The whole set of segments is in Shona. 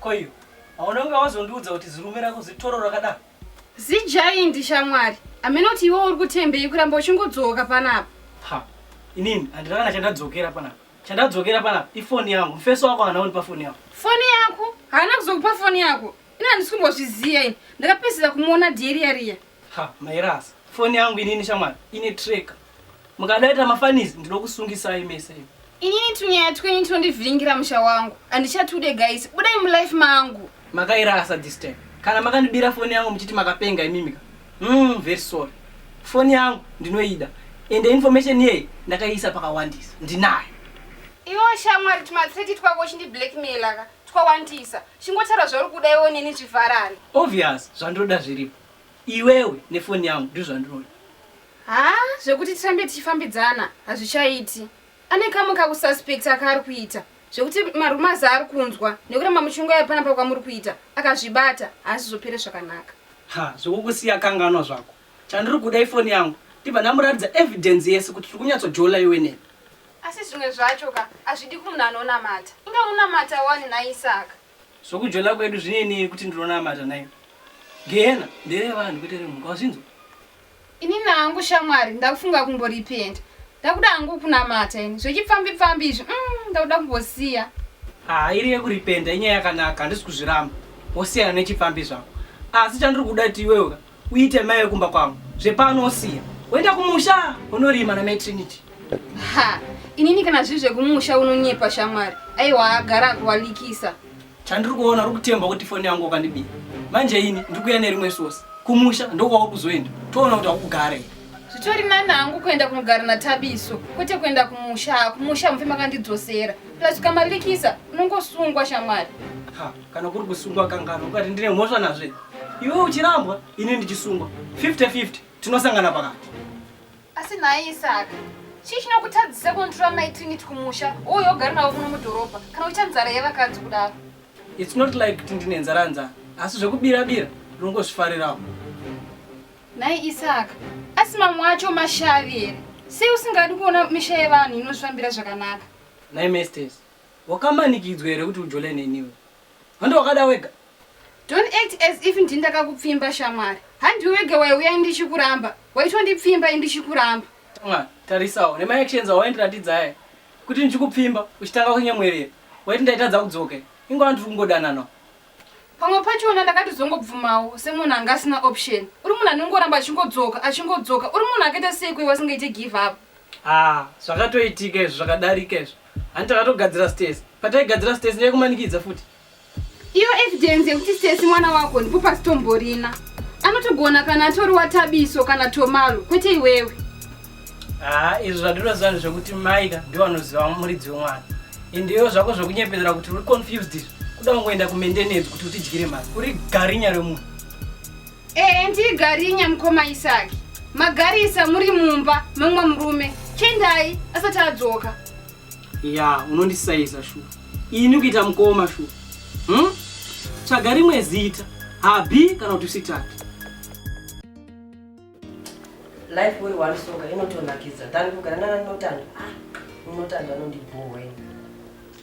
koiyo hauna kunge wazondiudza kuti zirume rako zitoro rakadaro zijaindi shamwari amene kuti iwe uri kutembei kuramba uchingodzoka panapa ha inini handina kana chandadzokera panapa chandadzokera panapa ifoni yangu mufeso wako haana undi pafoni yako foni yako haana kuzokupa foni yako ini handisi kumbozviziva ini ndakapedzera kumuona dieriya riya Ha, Mairas, foni yangu inini shamwari, ine tracker. Mukadaita mafanizi ndinokusungisai mese imi. Inini tunyaya twenyu tinondivhiringira musha wangu. Handichatude guys, budai mulife mangu. Makairasa this time. Kana makandibira foni yangu muchiti makapenga imimika. Mm, very sorry. Foni yangu ndinoida. Ende information yeyi ndakaiisa pakawandisa. Ndinayo. Iwo shamwari tumathreat twako uchindi blackmaila ka twawandisa. Chingotaura zvauri kuda iwo neni zvivharane. Obvious zvandoda zviripo. Iwewe nefoni yangu ndizvo zvandinoda. Haa zvekuti tirambe tichifambidzana hazvichaiti. Ane kamwe kakususpecta kaari kuita zvekuti marumours aari kunzwa nekuramba muchingouya panapa kwamuri kuita akazvibata haazizopere zvakanaka. Ha zvekukusiya kanganwa zvako. Chandiri kuda ifoni yangu ndibva ndamuratidza evidence yese kuti tiri kunyatsojola iwe neni. Asi zvimwe zvacho ka hazvidi kumunhu anonamata. Inga unonamata wani nhai Isaka. Zvokujona kwedu zvine neni kuti ndinonamata nayo. Gehena ndere vanhu kwete remhuka wazvinzwa? Ini nangu shamwari ndakufunga kumborepent. Ndakuda hangu kunamata ini zvechipfambi pfambi izvi umm ndakuda kumbosiya. Haa iri yekurepenta inyaya yakanaka handisi kuzviramba wosiyana nechipfambi zvako asi chandiri kuda kuti iwewe ka uite mai wekumba kwangu zvepano wosiya woenda kumusha unorima namai trinity ha inini kana zviri zvekumusha unonyepa shamwari aiwa agara akuwalikisa chandiri kuona uri kutemba kuti foni yangu wakandibiya manje ini ndiri kuya nerimwe sosi kumusha ndokwauri kuzoenda toona kuti wakugare zvitori nani hangu kuenda kunogara natabiso kwete kuenda kumusha kumusha mufe makandidzosera plus ukamalikisa unongosungwa shamwari kana kuri kusungwa kanganwa ukati ndine mhosva nazve iwe uchirambwa ini ndichisungwa 50-50 tinosangana pakati asi nhai isaka chii chinokutadzisa kunotora mai trinit kumusha uyo ogari navo kuno mudhorobha kana uita nzara yevakadzi kudaro its not like kuti ndine nzara nzara asi zvekubira bira ndinongozvifarirawo nhai isaka asi mamwe acho mashavi here sei usingadi kuona misha yevanhu inozvifambira zvakanaka nhai mestes Wakamanikidzwa here kuti ujole neni iwe? Hande wakada wega? Don't act as if ndini ndakakupfimba shamwari. Handiwe wega waiuya ini ndichikuramba. Waitondipfimba ini ndichikuramba. Shamwari, tarisawo nema actions awaindiratidza aya kuti ndichikupfimba uchitanga kunyemwerera. Waiti ndaitadza kudzoka here? Inga wandiri kungodananawo. Pamwe pachona ndakatizongobvumawo semunhu anga asina option. Uri munhu anongoramba achingodzoka, achingodzoka. Uri munhu akaita seiko iwe asingaite give up? Haa, zvakatoitika izvo zvakadarika izvo. Hanti takatogadzira Stacy. Pataigadzira Stacy ndiye kumanikidza futi. Iyo evidence yekuti Stacy mwana wako ndipo pasitomborina. Anotogona kana atori watabiso kana tomalo kwete iwewe. Ah, izvo zvadinoziva ndezvekuti Maika ndiwo anoziva muridzi wemwana. Ende iwo zvako zvekunyepedzera kuti uri confused izvi. Kuda kungoenda kumaintenance kuti utidyire mari. Uri garinya remunhu. Ee ndii garinya mukoma Isaki. Magarisa muri mumba memumwe murume. Chendai asati adzoka. Ya, unondisaiza shu. Ini kuita mukoma shu. Hmm? Tsvaga rimwe zita. Habi kana kuti usitati. Life uri one song inotonakidza. Tani kugara nana Notando. Ah, Notando anondibhowa ini.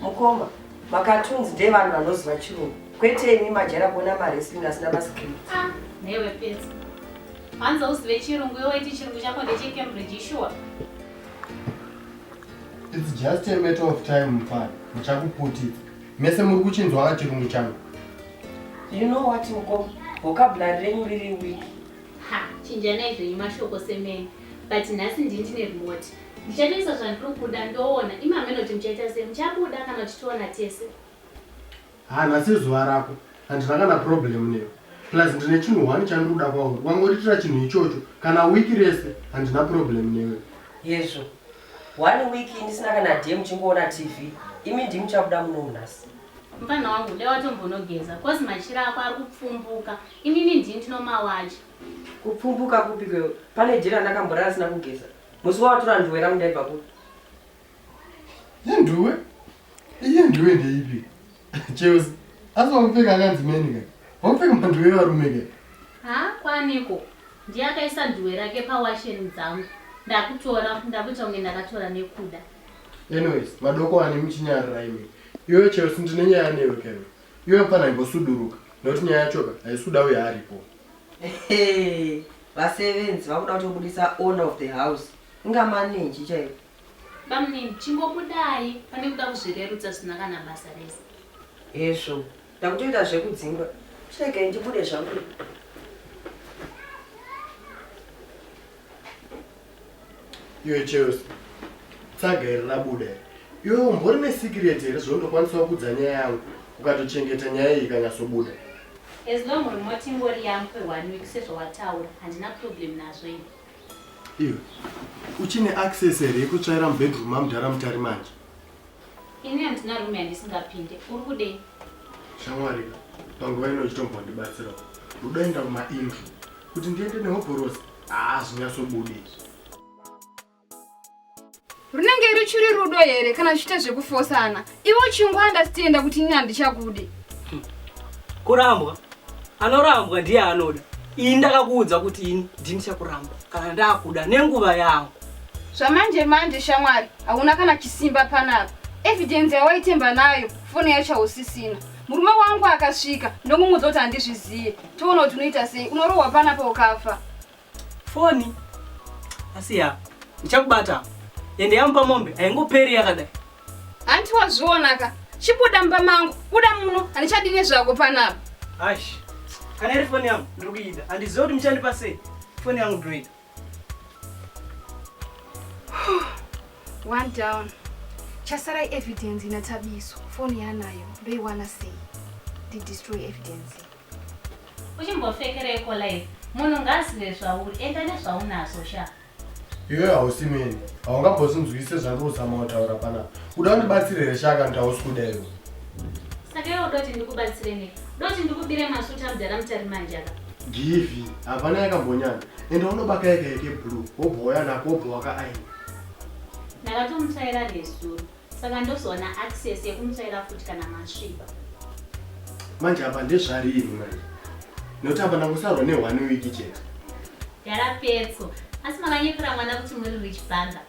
Mukoma, macartoons ndeevanhu vanoziva chirungu. Kwete imi majera kuona mawrestling asina mascript. Ah, newe pesa. Hanzi uzive chirungu iwe waiti chirungu chako ndecheCambridge sure. It's just a matter of time mfana. Muchakuputidza. Mese muri kuchinzwa chirungu changu. You know what mukoma? Vocabulary renyu riri weak. Ha, chinjanai zvenyu mashoko semene. But nhasi ndini ndine remote. Ndichatoisa zvandiri kuda ndoona. Imi hameno kuti muchaita sei. Muchabuda kana kuti toona tese. Haa nhasi izuva rako. Handina kana problem newe. Plus ndine chinhu one chandiri kuda kwauri. Wangoritira chinhu ichocho. Kana week rese handina problem newe. Hezvo. One week ndisina kana day muchingoona TV. Imi ndimi muchabuda munomu nhasi. Mfana wangu dai watombonogeza cause machira ako ari kupfumbuka. Inini ndini ndinomawacha. Kupfumbuka kupi kwewe? Pane day randakamborara ndisina kugeza. Musi wawatura nduwe rangu ndaibva kupi? Ye nduwe? Iye nduwe ndeipi? Cheusi, asi wakupfeka akanzi meni ka? Wakupfeka manduwe evarume ka? Ha, kwaniko? Ndiye akaisa nduwe rake pawasheni dzangu. Ndakutora, ndakuita kunge ndakatora nekuda. Anyways, madoko ane muchinyarira imi. Iwe Cheusi ndine nyaya newe ka iwe. Iwe mfana imbosuduruka nekuti nyaya yachoka haisi kuda uye aripo. Vasevenzi vakuda kutobudisa owner of the house inga manenji chaiyo. Bamnini chingobudai pane kuda kuzvirerutsa zvisina kana basa rese. Hezvo ndakutoita zvekudzingwa chiregai ndibude zvangu. Iwe Chelsea, tsaga iri rabuda iri. Iwe umbori nesikireti here zvekuti ndokwanisa kukudza nyaya yangu ukatochengeta nyaya iyi ikanyatsobuda? As long remote ingori yangu kwe one week sezvawataura, handina problem nazvo ini. Iwe, uchine access here yekutsvaira mubedroom mamudhara Mutari manje? Ini handina rume yandisingapinde. Uri kudei? Shamwari, panguva ino uchitombwa ndibatsirawo. Rudoenda kumaindru. Kuti ndiende nehobhorosi, haa zvinyatsobudi izvi. Runenge ruchiri rudo here kana zvichiita zvekufosana? Iwe uchingwanda sitienda kuti ini handichakude. Kurambwa? Anorambwa ndiye anoda. Ini ndakakuudza kuti ini ndini chakuramba kana ndakuda nenguva yangu. Zvamanje manje shamwari hauna kana chisimba panapa. Evidence yawaitemba nayo foni yacho hausisina. Murume wangu akasvika ndomumudza kuti handizvizive. Toona kuti unoita sei unorohwa panapa ukafa. Foni asi ya ndichakubata ende yamupa mombe haingoperi yakadai. Hanti wazvionaka chibuda mumba mangu buda muno handichadi nezvako panapa. Ash kana iri foni yangu ndiri kuida handizive kuti muchandipa sei foni yangu ndoida. One down. Chasara evidence ina Thabiso. Phone yanayo ndoiwana sei? Ndi destroy evidence. Uchimbofekereko live. Munhu ngazive zvauri enda nezvaunazvo sha. Iwe hausi mene. Haungambozvinzwise zvandiri kuzama kutaura panapa. Uda undibatsire here shaka kuti hausi kuda iwe. Saka iwe udoti ndikubatsire nei? Udoti ndikubire masuta mudhara mutari manje aka. Givi, hapana yakambonyana. Enda unobaka yega yeke blue wobva wauya nako wobva wakaaina. Ndakatomutsvaira nezuro saka ndozowana access yekumutsvaira futi kana masviba. Manje apa ndezvarini manje nokuti apa ndangosarwa ne one week chete. Yara petso asi makanyepera mwana kuti muri rich banda.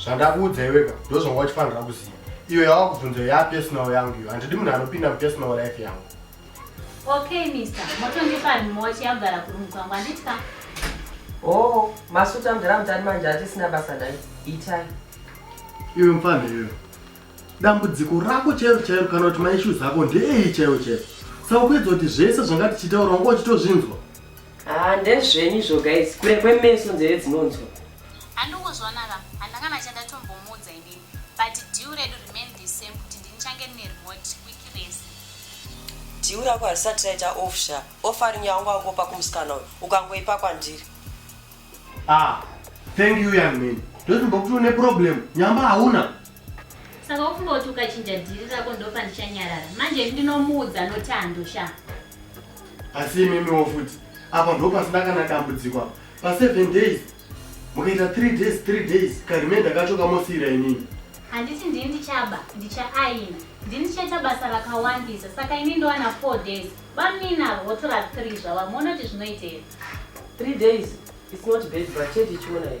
zvandakuudza iweka ndozvanga uchifanira kuziva iyo yava kubvunza iyo yapersonal yangu iyo handidi munhu anopinda mupersonal life yangu okay mister motondipa nhimochi yagara kurumukwangu handiti ka o oh, masuta mdara mutani manje hatisina basa naye itai iwe mfana iwe dambudziko rako chairo chairo kana kuti maishues ako ndeei chairo chairo saka kuedza kuti zvese zvanga tichitaura wanga uchitozvinzwa Ah, ndezvenyu izvo guys, kure kwemeso nzeve dzinonzwa. Handikuzwanaka, handangana chandatombomuudza inini, but deal redu remain the same kuti ndinichange ndine remote week rese. Deal rako harisati raita off sha, offering yaunga wangopa kumusikana uyu, ukangoipa kwandiri. Ah, thank you young man. Ndozimbokutiwo neproblem, nyamba hauna. Saka ufunga kuti ukachinja dhiri rako ndopandichanyarara manje ini ndinomuudza notando sha asi imimiwo futi apa ndo pasina kana dambudziko apa paseven days mukaita three days three days karemenda kacho kamosiira inini handiti ndini ndichaba ndichaaina ndini ndichaita basa rakawandisa saka ini ndowana four days vaminavo votora three zvava monoti zvinoitei three days its not bad but chete ichiona ii